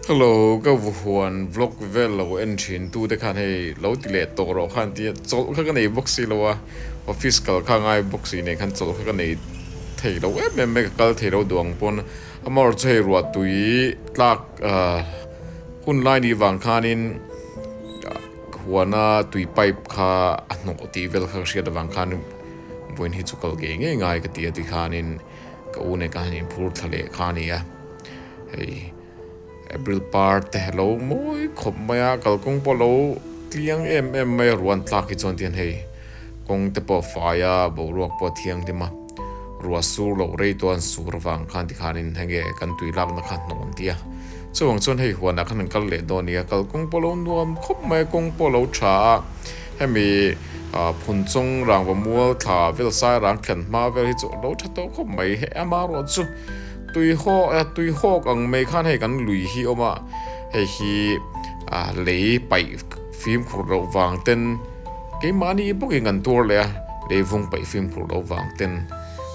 Hello, ka vahuan vlog vel lo en thin tu te khan hei lo ti leh tawh rawh khan tia chawlh kha ka nei bawk si lo a, office kal kha ngai bawk si nen khan chawlh kha ka nei thei lo em em mai ka kal thei lo duang pawn amarawh chu hei ruahtui tlak hun lai ni vang khan in huana tui pipe kha a hnawh tih vel kha ka hriat avang khan in vawiin hi chu kal ngei ngei ngai ka ti a ti khan in. Ka u neka hian inphur thla leh kha a ni a, hei April par te lo mawi khawp mai a, kalkawng pawh lo tliang em em mai a, ruah an tlak hi chuan ti hian hei kawng te pawh fai a, boruak pawh a thianghlim a, ruah sur loh rei tawh an sur avang khan ti khanin enge kan tui lakna kha hnawh an ti a, chuvang chuan hei huanah khan an kal leh dawn a nia, kalkawng pawh lo nuam khawp mai a, kawng pawh a lo tha a. Hemi phun chung rangva mual thla vel sairang thian hma vel hi chu a lo tha tawh khawp mai. Heh ama ruah chu tui hawk e, tui hawk ang mai khan hei kan lui hi awm a, hei hi lei paih fim khurh loh vang ten keimahni bawkin kan tuar leh a, lei vung paih fim khurh loh vang ten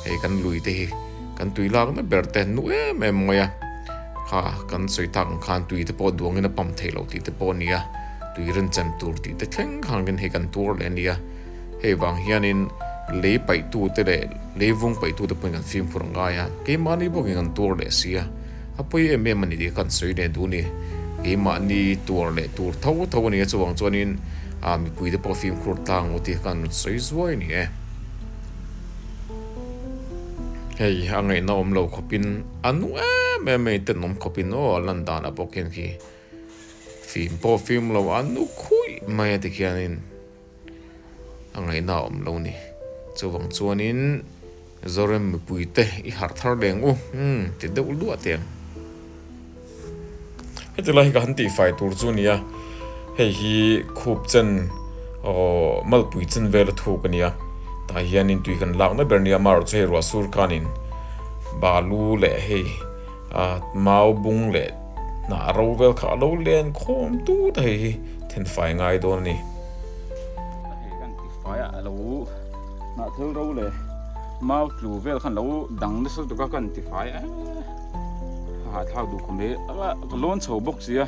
hei kan lui te hi kan tui lak na ber te nu em em mai a, ha kan sawi tak ang khan tui te pawh duangin a pam theih loh tih te pawh a ni a. Tui rin chan tur tih te thleng khan rin hi kan tuar leh a nia. Hei vang hianin lei paihtute leh lei vung paihtute pawhin kan fimkhur a ngai a, keimahni bawkin kan tuar leh si a. A pawi em em a ni tih kha kan sawi leh duh a ni. Keimahni tuar leh tur tho tho a ni a, chuvang chuanin mipuite pawh fimkhur tlang maw tih kha kan rawn sawi zuai a ni e. Hei a ngaihna awm lo khawpin a nu em em a ni tenawm khawpin aw a lan dan a bawk hian khi. Fim pawh fim lo a nu khuih mai a ti khianin a ngaihna a awm lo ni. Chuvang chuanin Zorem mipui te i harh thar leng u umm ti deuh luah teh ang. Heti lai hi ka han tih fai tur chu nia hei hi khup chen aw malpui chen vel a thuk ania tah hianin tui kan lakna ber nia amaherawhchu hei ruah sur khanin balu leh hei. Mau bung leh hna a ro vel kha a lo len khawm tut a hei hi thenfai ngai dawn a ni. A hei hian tifai ah a lo hnah thel ro leh mau tlu vel khan lo dang nasa tuk a ka han tifai a, ka hahthlak duh khawp mai, ka lawn chho bawk sia.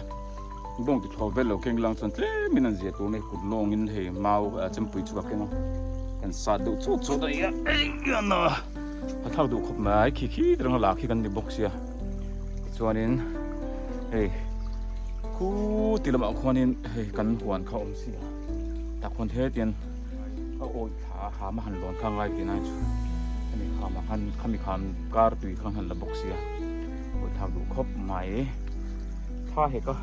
Bawng ti thuak vel lo keng lang chuan tlem in an zia tur mai kut lawng in hei mau chempui chu ka keng a kan sat deuh chut chut a nia engmana a thlak duh khawp mai khi khi te rang a la khi kan ni bawk sia chuan in hei khu ti lamah khuan in hei kan huan kha awm sia tak hun he tian a awi thla ha ma han lawn kha ngai ti nai chu ani kha ma khan khami khan kar tui khan han la bawk sia awi thak duh khawp mai Tha hek a,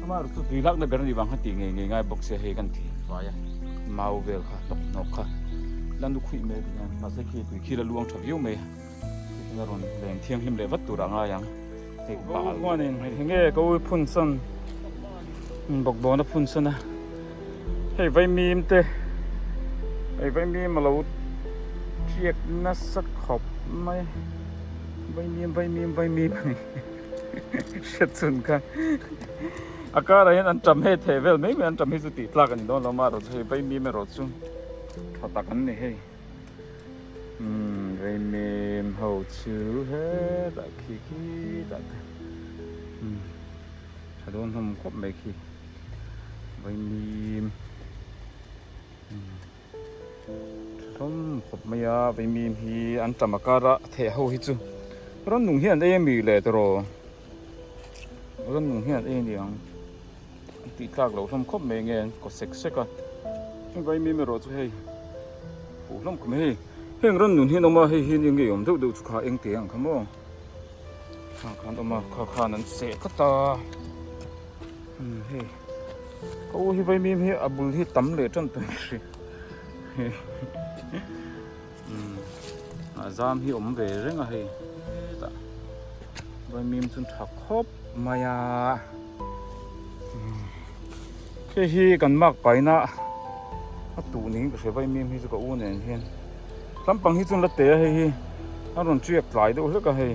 amah ru chu tui lakna ber anih vang kha tih ngei ngei ngai bawk sia hei kan tih vai a, mau vel kha hlawk hnawk kha la nu khuih mai tih a, mahse khi tui khi la luang tha viau mai a, khi ka rawn leng thianghlim leh vat tur a ngai ang, hei bal. Ka u chuan in eng nge ka u phunsan min bawk dawn a phunsan a, hei vaimim te hei vaimim a lo tiak nasak khawp mai, vaimim vaimim vaimim a ni. Hre chun kha A karah hian an tam heh theh vel mai mai an tam hi chu tih tlak a ni dawn lo mah erawh chu hei Baimi em erawh chu tha tak an ni hei Baimi em ho chu he tah khi khi tah te tha dawn hlawm khawp mai khi Baimi em Hlawm khawp mai a, vei mim hi an tam a kar a, a theh ho hi chu Rannung hi an ei a mi le tawh raw, Rannung hi an ei a ni ang, an tih tlak loh hlawm khawp mai nge an kaw sek sek a, heng vei mim erawh chu hei puh hlawm khawp mai, hei heng Rannung hi an awm a, hei hi enge awm deuh deuh chu kha engtia ang kha maw, khang khan awm a, kha khan an seh tlat a. Umm hei ka u hi vaimim hi a bul hi tam leh tan tawh hri umm a zam hi awm ve reng a hei tah vaimim chu tha khawp mai a hei hi kan mak paina a tuh niin ka hre vaimim hi chu ka u nen hian tlampang hi chun la te a hei hi a rawn chiak tlai deuh hlek a hei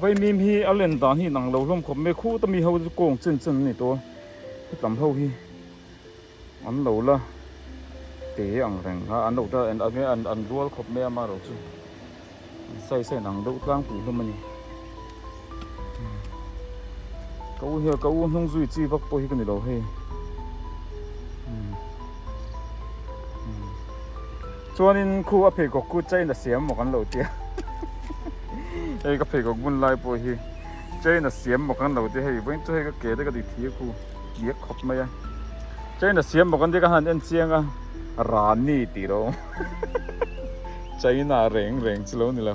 Vaimim hi a len dan hi inang lo hlawm khawp mai khuta mi ho chu kawng chen chen ani tawh a hetam ho hi an lo la te ang reng a an lo ta an an rual khawp mai a mah erawh chu an sawi sawi inang deuh tlangpui hlawm ani. Ka u hian ka u hnung zui chi vak pawh hi ka ni lo hei chuanin khu a pheikhawk khu chain a siam maw kan lo tia hei ka pheikhawk bun lai pawh hi chain a siam maw kan lo tia hei vawiin chu hei ka ke te ka dikthi a khu biak khawp mai a chain a siam maw kan tia ka han en chiang a rani tih lo chain a reng reng chu lo ni lo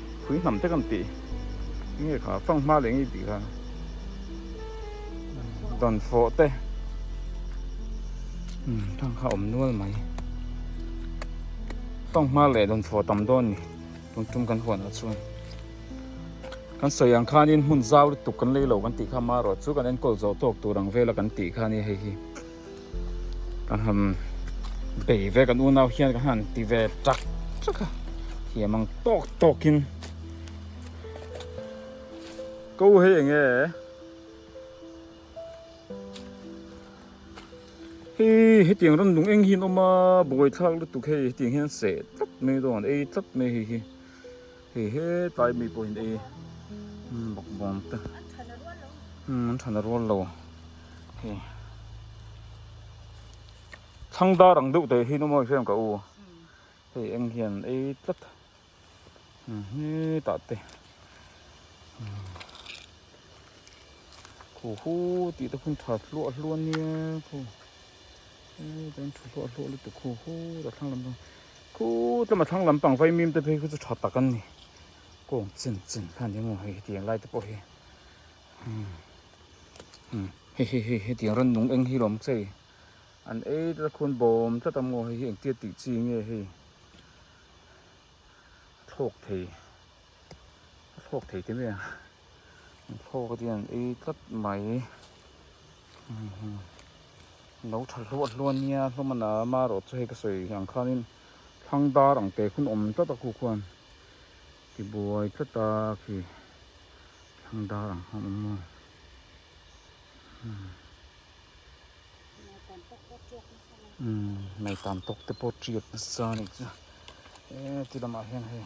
khui hnam te kan tih nge kha fang hma leh nge tih kha dan fawh te um fang kha awm nual mai fang hma leh dan fawh tam dawn ni tum tum kan huan ah chuan kan sawi ang khanin hmun zau lutuk kan lei lo kan tih kha mah rawh chu kan enkawl zawh tawk tur ang vel a kan tih kha ni hei hi Ka han bei ve kan unau hian ka han ti ve chak chak a, thiam ang tawk tawkin ko hei eng e hi hetiang ram lung eng hian awm a, buai thlak lutuk hei hetiang hian seh tlat mai dawn ei tlat mai hei hi. Hei he tlai mi pawhin ei bakbuang te an than a rual lo hei thlang dar ang deuh teh hi nu mawi fiam ka u hei eng hian ei tlat hi ta te khu khu ti te phun tha tluah hluan nia khu Chuan thu hlawh hlawh lutuk hu hu a thlang lam pang khu tlem a thlang lam pang vaimim te phei chu tha tak an ni kawng chen chen kha nia maw hei hetiang lai te pawh hi he he he hetiang rannung eng hi lawm che i an ei ta khun bawm tlat a maw hei hi engtia tih chi nge hei a thlawk thei a thlawk thei te mai ang. An thlawk atin an ei tlat mai. Lo tha hluah hluah nia hlawmana ama erawh chu hei ka sawi ang khanin thlang dar ang te khun awm tlat a khu khuan ti buai tlat a khi thlang dar ang khan awm maw. Mai tan tawk te pawh tiat nasa a ni chu e ti lamah hian hei.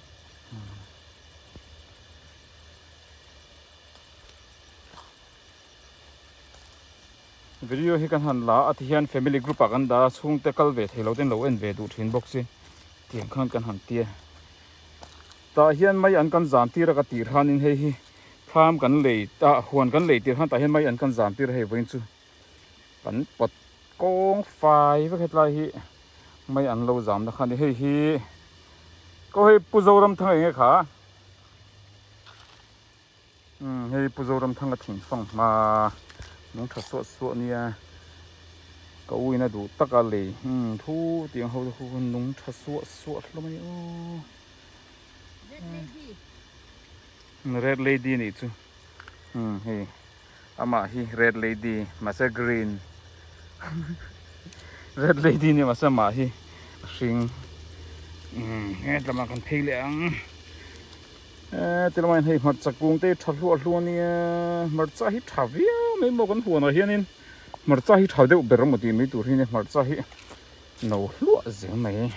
video hi kan han la a ti hian family group a kan da chung te kal ve thei lo ten lo en ve du thin bawk si tiang khan kan han tia ta hian mai an kan zan tir a ka ti ran in hei hi tham kan lei ta huan kan lei tir han ta hian mai an kan zan tir hei vain chu Kan pat kawng fai vek hetlai hi mai an lo zam na kha ni hei hi ko hei pu zoram thang enge kha um hei pu zoram thang a thing fang ma nung tha suah suah nia ka u ina du tak a lei um thu tiang ho khu nung tha suah suah hlawm a ni u red lady ni chu Hi amah hi red lady mahse green red lady ni mahse mah hi a hring he tlama kan phei leh ang e ti lama hei hmarcha kung te tha hluah hluah nia hmarcha hi tha viau mai maw kan huanah hianin hmarcha hi tha deuh ber maw tih mai tur hi nia hmarcha hi No hluah zel mai.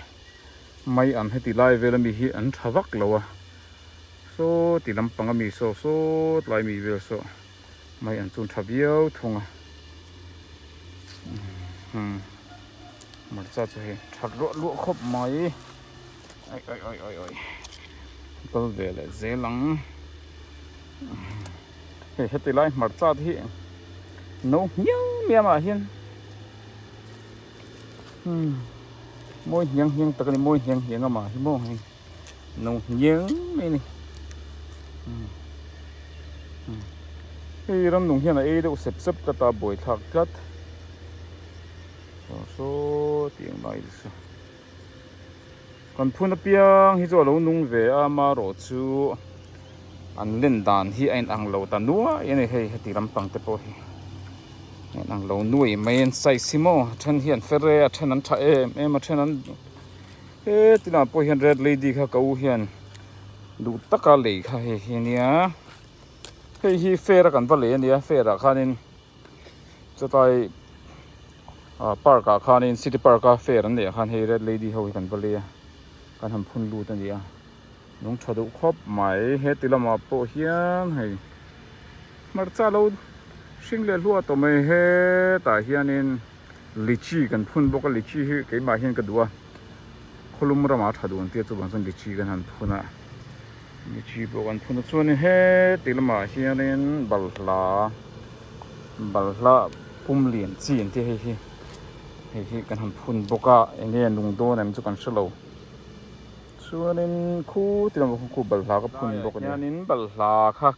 Mai am heti lai vela mi hi an tha vak lo a. Sawti lam panga mi saw sawt lai mi vel saw mai an chu tha viau thung a. Umm hmarcha chu hei tha luah luah khawp mai. Oi oi oi oi oi kal ve leh zel ang. Hei heti lai hmarcha te hi no hmiang miang ah hian. Umm mawi hniang hniang tak a ni, mawi hniang hniang a mah hi maw hei, no hniang mai a ni. Umm umm hei ram nung hian a ei deuh sep sep tlat a, a buai thlak tlat. Saw saw tih ang daih zel sa. Kan phun apiang hi chu a lo nung ve a, amarawh chu an len dan hi a inang lo ta nuai a ni. Hei heti lampang te pawh hi a inang lo nuai mai an size hi maw, a then hi an fer e, a then an tha em em, a then an he ti lah pawh hian red lady kha ka u hian duh taka lei kha hei hi a nia, hei hi fair a kan va lei a nia, fair ah khanin. Chutai park ah khanin city park a fair an neih khan hei red lady ho hi kan va lei a kan han phun lut a ni a nung tha duh khawp mai heti lamah pawh hian hei hmarcha lo hring leh hluat awm mai hetah hianin. Lychee kan phun bawk a, lychee hi keimah hian ka duh a, khawlum ramah tha dun tia chuvang chuan lychee kan han phun a, lychee pawh kan phun a chuanin heti lamah hianin balhla, balhla pum lian chi ang te hei hi, hei hi kan han phun bawk a, eng nge nung dawn em chu kan hre lo, chuanin khutiang ka balhla ka phun bawk a ni. Balhla kha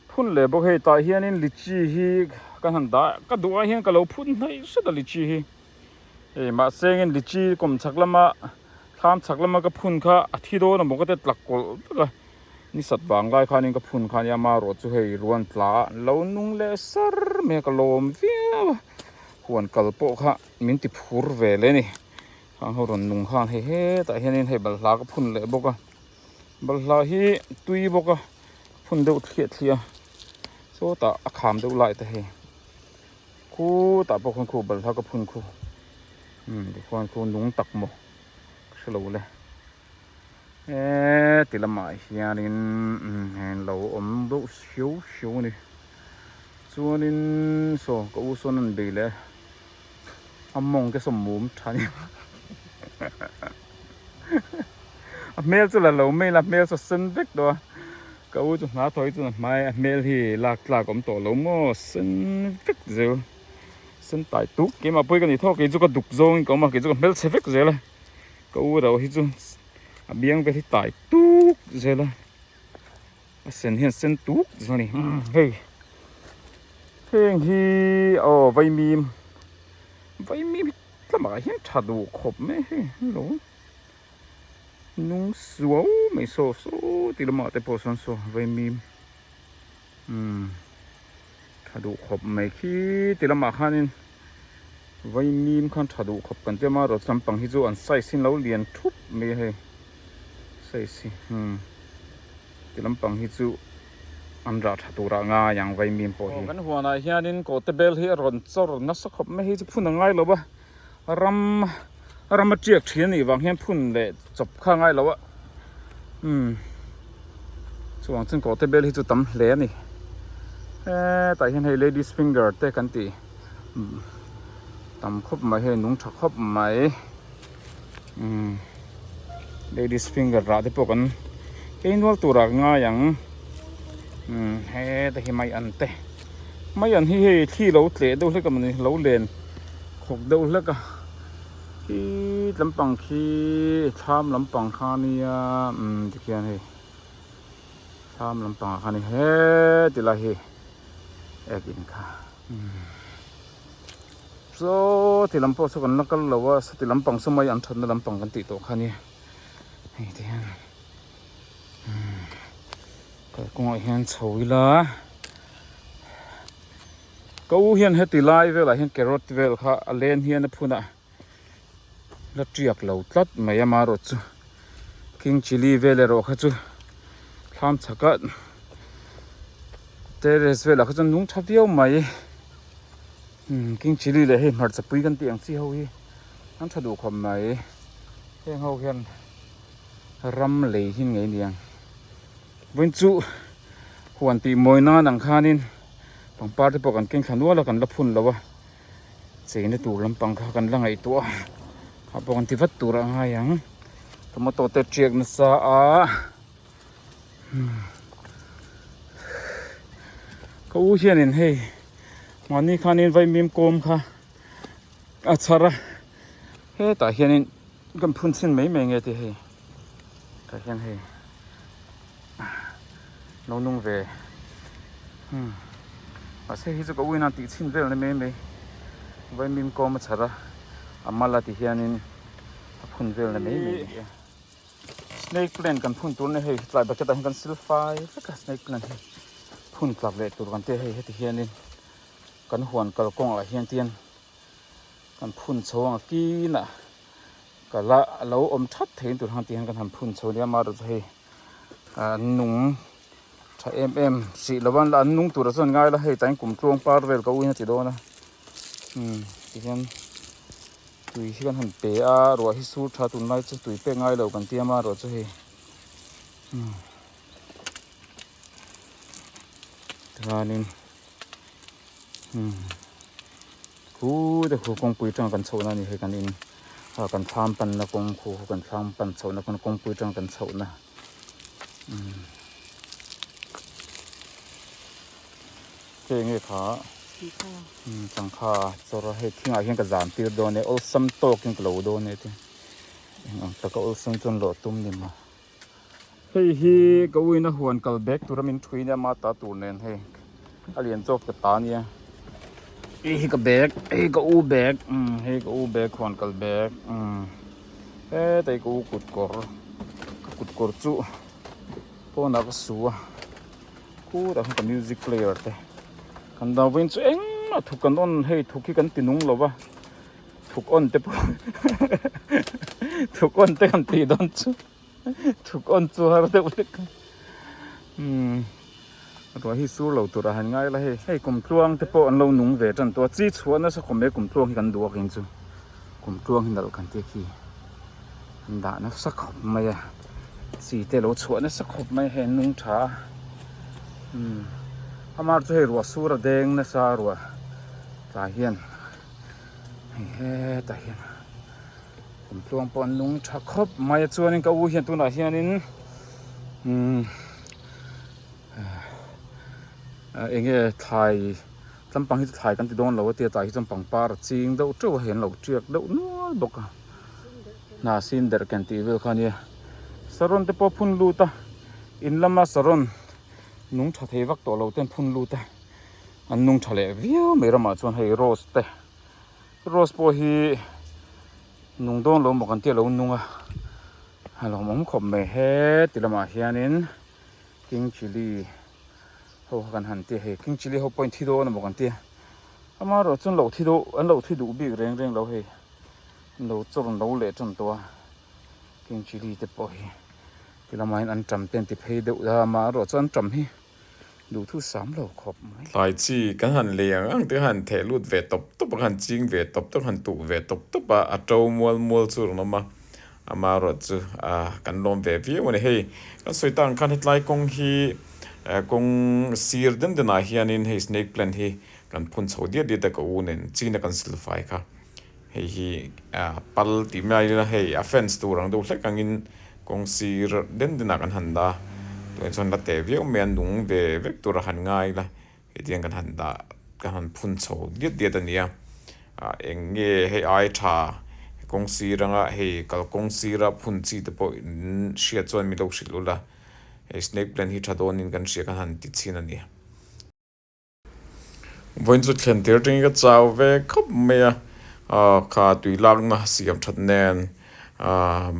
Phun leh bawk hei tah hianin lychee hi ka han dah ka duh ah hian ka lo phun hnaih hret a lychee hi hei mahse angin lychee kum chhak lama thlam chhak lama ka phun kha a thi dawn a mawngte tlak kawlh vek a ni sat vang lai khanin ka phun kha a ni a amarawh chu hei ruan tla ah lo nung leh sar mai a ka lawm viau a huan kal pawh kha min ti phur ve leh a ni thang ho rawn nung khan hei hetah hianin hei balhla ka phun leh bawk a. Balhla hi tui bawk a, phun deuh thliah thliah a, sawtah a kham deuh lai ta hei. Khutah pawh khawn khu balhla ka phun khu. Hmm, tikhuan khu nung tak maw ka hre lo le. Eee, tilamah hianin heng lo awm deuh hriau hriau a ni. Chuanin saw ka u sawn a han bei leh a. a mawng te sawm mum tha ni a hmel chu la lo mail a hmel chu sen vek tawh a ka u chu hna thawi chun a hmai a hmel hi lak tlak awm tawh lo maw sen vek zel sen tai tuk ke mah pawi ka ni tho kei chu ka duk zawng in ka awm a kei chu ka hmel che vek zel a ka u erawh hi chu a biang vel hi tai tuk zel a A sen hian sen tuk zia ni hei heng hi aw vaimim vaimim tlamah hian tha duh khawp mai hei hello nung suau mai saw saw ti lamah te pawh sawn saw vaimim umm. Tha duh khawp mai khiti lamah khanin vaimim khan tha duh khawp kan ti a mah rawh chu lampang hi chu an size hi lo lian thup mai a hei size hi hmm ti lampang hi chu an rah tha turah ngai ang vaimim pawh hi. Kan huanah hianin kawte bel hi a rawn chawr nasa khawp mai hi chu phun a ngai lo va. ram ram aṭiak ṭhin a nih vang hian phun leh chawp kha a ngai loh a umm chuvang chuan kawhte bel hi chu tam hle a ni he tah hian hei ladies finger te kan tih tam khawp mai hei nung ṭha khawp mai umm ladies finger rah te pawh kan kei nual tur a ngai ang umm heta hi mai an te. mai an hi hei thli lo tleh deuh hlek em ni lo len khawk deuh hlek a i tlam pang khi thlam lam pang kha nia umm tikhian hei thlam lam pang kha ni he ti lai hi ek in kha so ti lam pawh chu kan la kal lo a sa ti lam pang chu mai an that na lam pang kan tih tawh kha nia hei tikhian umm Kalkawngah hian chho ila ka u hian heti lai velah hian carrot vel kha a len hian a phun a la tiak lo tlat mai a marawt chu king chilli vel erawh kha chu thlam chhak a terrace velah kha chuan nung tha viau mai king chilli leh hei hmarcha pui kan tih ang chi ho hi an tha duh khawp mai heng ho hian Ram lei hin ngei niang vawiin chu huan tih mawi nan ang khanin pangpar te pawh kan keng thla nual a kan la phun lo a chei na tur lampang kha kan la ngaihtuah a kha pawh kan ti vat tur a ngai ang tomato te tiak na sa a ka u hianin hei mahni khanin vaimim kawm kha a chhar a hetah hianin kan phun chhin mai mai nge tia hei tah hian hei lo nung ve hmm mahse hi chu ka uinan tih chhin vel na mai mai vai mim kawm a chhar a a mal a ti hianin a phun vel na mai mai e snake plant kan phun tur na hei tlai bucket ah hian kan sil fai vek a snake plant hi phun tlak leh tur kan tia hei heti hianin kan huan kalkawng ah hian tian Kan phun chho ang a kina ka la a lo awm that thei an tur hang tih hian kan han phun chho nia mah erawh chu hei an nung tha em em hrih lo a an nung tur ah chuan ngai la hei tlai kum tluang par vel ka uihin a ti dawn a umm ti hian tui hi kan han pe a ruah hi sur tha tun lai chu tui pek ngai lo kan tia mah erawh chu hei umm tihian in. Khu te khu kawngpui tang kan chhohna ni hei kan in a kan thlam panna kawng khu ho kan thlam pan chhohna pawn kawngpui tang kan chhohna hei nge kha changkha chawra hei thingah hian ka zan tir dawn e awlsam tawkin ka lo dawn e eng ang taka awlsam chuan lawh tum ni maw. Hei hi ka uina huan kal bek tura min thui nia ma ta tur nen hei a lian chawk ta ta nia hei hi ka bek hei ka u bek um hei ka u bek huan kal bek um hetei ka u kut kawr ka kut kawr chu phone ah ka su a khutah khan ka music player te kan dang vawiin chu engmah thut kan rawn hei thut hi kan ti nung lo va Thuk on te pawh thuk on te kan tih dawn chu thuk on chu har deuh hlek a umm ruah hi sur lo tur a han ngai la hei hei kum tluang te pawh an lo nung ve tan tawh a chi chhuah nasa khawp mai kum tluang hi kan duh akin chu kum tluang hi nalh kan tih khi an dah nasa khawp mai a chi te lo chhuah nasa khawp mai hei an nung tha a umm amar chu hei ruah sur a deng nasa ruah tlai hian hei hetah hian kum tluang pawh an nung tha khawp mai a chuanin ka u hian tunah hianin umm ah eng nge thlai tlam pang hi chu thlai kan ti dawn lo a tah hi chuan pangpar a ching deuh teuh a hei an lo tiak deuh nual bawk a hna sin der kan tih vel kha nia saron te pawh phun lut a in lama saron nung tha thei vak tawh lo ten phun lut a. An nung tha leh viau mai ramah chuan hei rose te rose pawh hi nung dawn lo maw kan tih a lo nung a a lo awm khawp mai heti lamah hianin king chilli ho kha kan han ti a hei king chilli ho pawhin thi dawn a maw kan tia ama erawh chuan lo thi deuh an lo thi duh bik reng reng lo hei an lo chawr an lo leh tan tawh a king chilli te pawh hi ti lamain an ṭam te an ti phei deuh a amaherawh chu an ṭam hi. Duhthus sam lo khawp mai. Hlai chi ka han lei ang ang tia han theh lut ve tawp tawp a, ka han ching ve tawp tawp, ka han tuh ve tawp tawp a, a to mual mual chu a rawn awm a, ama erawh chu kan lawm ve viau a ni. Hei kan sawi ta ang khan hetlai kawng hi kawng sir den den ah hian in hei snake plant hi kan phun chho diat diat a ka u nen Chin a kan silfai kha. Hei hi pal tih mai ila hei offence tur ang deuh hlek angin kawng sir den denah kan han dah a, tuah chuan la teh viau mai a nung ve vek tur a han ngai ila hetiang kan han dah kan han phun chho diat diat a nia, eng nge hei ai tha kawng sir anga hei kalkawng sira phun chi te pawh in hriat chuan milo hrilh ula hei snake plant hi tha dawnin kan hria kan han ti chhin a ni. Vawiin chu thlen tir aṭangin ka chau ve khawp mai a, kha tui lakna siam ṭhat nen,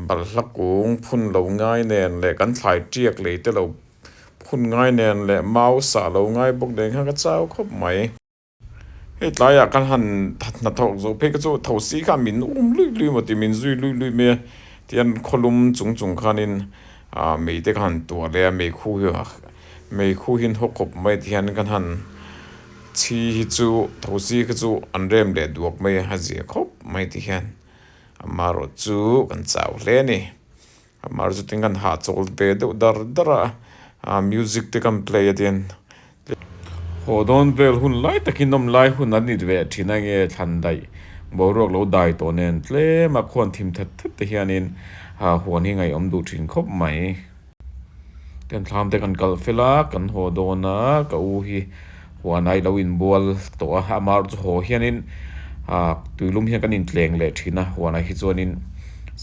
balhla kung phun lo ngai nen leh kan thlai ṭiak leite lo phun ngai nen leh mau sah lo ngai bawk nen khan ka chau khawp mai. Hei tlaiah kan han hna thawk zawh phei kha chu tho si kha min um luih luih maw ti, min zui luih luih mai a tian khawlum chung chung khanin, Aa mite ka han tuar leh a meikhu hi meikhu hi haw khawp mai ti hian kan han chhi hi chu thosi kha chu an rem leh duak mai a a zia khawp mai ti hian amah rawh chu kan chau hle a ni amah rawh chu tin kan hah chawl ve deuh dar dar a music te kan play a tin. Haw dawn vel hun lai takin awm lai hun an it ve thin a nge thlan daih boruak lo dai tawh nen tlem a khuan thim that that te hianin hahuan hi ngaihawm duh thin khawp mai. Tenthlam te kan kalh fel a, kan haw dawn a, ka u hi huan ai lo in bual tawh a, a mar chu haw hianin tuilum hian kan in tleng leh thin a, huan ai hi chuanin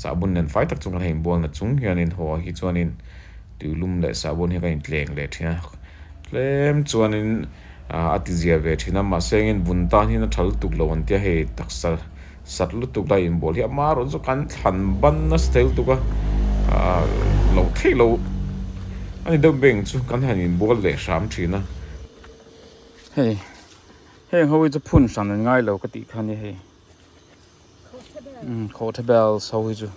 sahbun nen fai tak chung kan ha in bual nat chung hianin haw hi chuanin. Tuilum leh Sahbawn hi ka in tleng leh thin a, tlem chuanin a ti zia ve thin a, mahse engin vun tan hi na thal tuk lo an tia hei taksa sat lutuk lai in bawl hi a hma rawn chu kan thlan ban nasa tel tuk a, lo thei lo a ni deuh beng chu kan han in bual leh hram thin a. Hei heng ho hi chu phun hran an ngai lo ka tih kha nia hei. Khawhthla bel so hi chu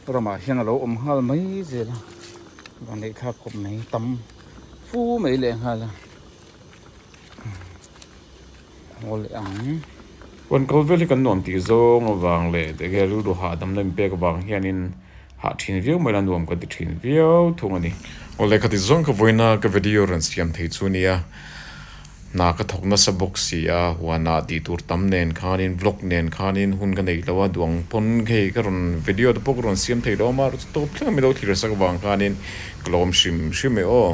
ramah hian a lo awm nghal mai zel a, van leh thlak kawp mai tam fu mai leh nghal a, aw leh ang. Huan kal vel hi kan nuam tih zawng avang leh, rilru hahdamna inpek vang hianin hah thin viau mai la nuam kan ti thin viau thung a ni. Aw lehkha ti zawng ka vawiin a ka video rawn siam thei chu nia hna ka thawk nasa bawk si a huanah tih tur tam nen khanin vlog nen khanin hun ka nei lo a duang pawn hei ka rawn video te pawh ka rawn siam thei lo a mahse tawp thleng a milo thirsak vang khanin ka lawm hrim hrim e aw.